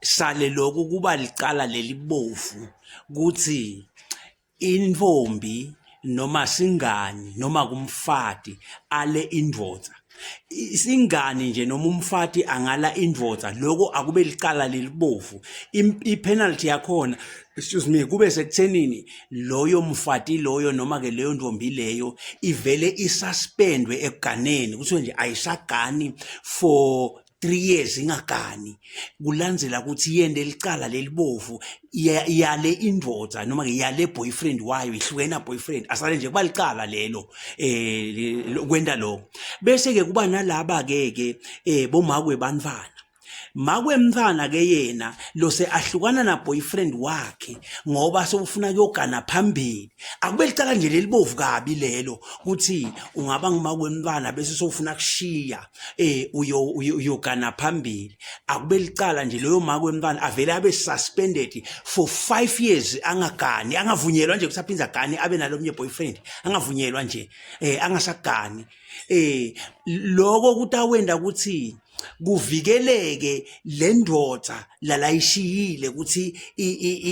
sale lokhu kuba licala lelibovu kuthi intombi noma singani noma kumfati ale indoda isingani nje noma umfati angala indoda lokho akube licala lelibovu ipenalty yakhona excuse me kube sekuthenini loyo mfati loyo noma ke leyo ntombi leyo ivele isuspendwe ekuganeni kuthiwe nje ayisagani for 3 years ingagani kulandzela ukuthi yende licala lelibovu yale indoda noma yale boyfriend wayo ihlukena boyfriend asale nje kuba licala lelo eh kwenda lo bese ke kuba nalaba ke ke eh bomakwe banfana makwemntwana ke yena lose ahlukana na boyfriend wakhe ngoba sewufuna kuyogana phambili akube licala nje lelibovu kabi lelo ukuthi ungaba ngumakwemntwana bese sewufuna kushiya eh uyo uyogana phambili akube licala nje loyo maka wemntwana avele abe suspended for 5 years angagani angavunyelwa nje kusaphinza gani abe nalomnye boyfriend angavunyelwa nje eh angasagani eh lokho kutawenda ukuthi kuvikeleke le ndoda lalayishiyile ukuthi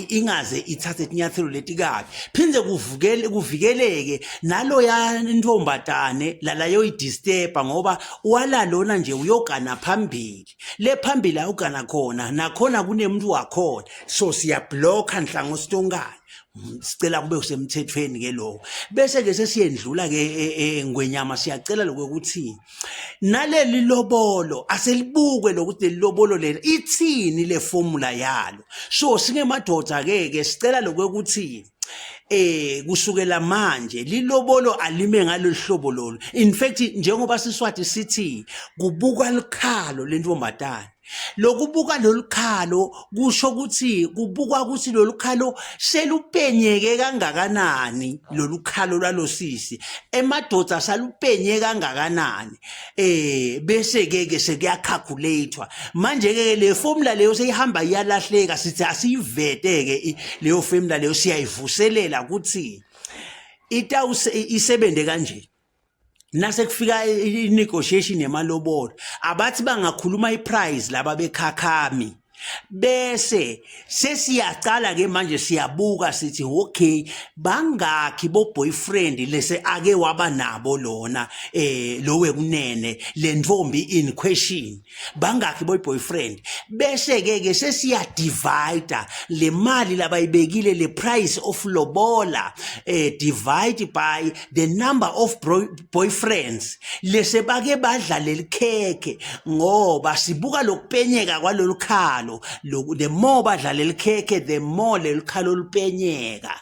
ingaze ithathe isinyathelo leti kabi phinde kuvukele kuvikeleke naloya ntombadane lalayoyidisturba ngoba walalona nje uyogana phambili le phambili ayogana khona nakhona kunemuntu wakhona so siyabhlokha nhlango sitonkana sicela kube usemthethweni ke lokho bese ke sesiyendlula ke e, e, e, ngwenyama siyacela lokho ukuthi naleli lobolo aselibukwe lokuthi leli lobolo leli ithini le formula yalo so singemadoda ke ke sicela lokuthi eh kusukela manje lilobolo alime ngaloluhlobo lolu in fact njengoba siswati sithi kubuka likhalo lentombazana Lokubuka lolu khalo kusho ukuthi kubukwa ukuthi lolu khalo selupenyeke kangakanani lolu khalo lwalosisi emadoda salupenye kangakanani eh bese ke ke sekuyakhakhulatwa manje ke le formula leyo seyihamba iyalahleka sithi asiyivete ke leyo formula leyo siyayivuselela ukuthi itawuse isebenze kanje nasekufika i-negotiation yemalobolo abathi bangakhuluma i-price laba bekhakhami bese sesiyaqala ke manje siyabuka sithi okay bangakhi bo boyfriend lese ake waba nabo lona eh lowe kunene lentfombi in question bangakhi boy boyfriend bese ke ke sesiya divider le mali labayibekile le price of lobola eh divide by the number of boyfriends lese bake badla lelikhekhe ngoba sibuka lokupenyeka kwalolukhalo the more badla lelikhekhe the more lelikhalo lupenyeka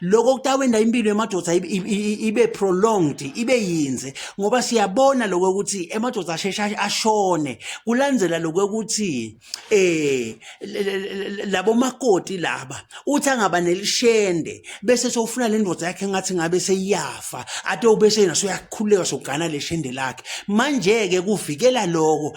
lokho kutawenda impilo yemadoda ibe prolonged ibe yinze ngoba siyabona lokho ukuthi emadoda ashesha ashone kulandzela lokho ukuthi eh labo makoti laba uthi angaba nelishende bese sofuna le ndoda yakhe ngathi ngabe seyiyafa ate ubese yena soyakhuleka sogana leshende lakhe manje ke kuvikela lokho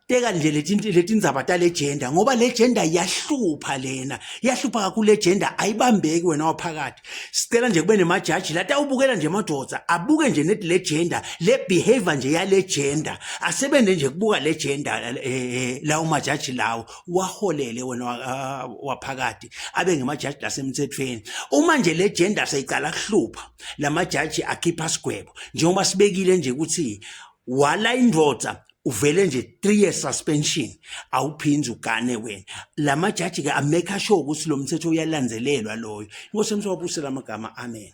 teka nje leti ndzaba tale gender ngoba le gender iyahlupha lena iyahlupha kakhulu le gender ayibambeki wena waphakathi sicela nje kube nemajaji lati awubukela nje madoda abuke nje neti le gender le behavior nje yale gender asebenze nje kubuka le gender eh, eh, lawo majaji lawo waholele wena ah, waphakathi abe ngemajaji lasemthethweni uma nje le gender seyiqala kuhlupha lamajaji akhipha sigwebo njengoba sibekile nje ukuthi wala indoda uvele nje 3 years suspension awuphinzi ugane wena lamajaji ke ameka sure ukuthi lo mthetho uyalandzelelwa loyo inkosi emswabuse lamagama amen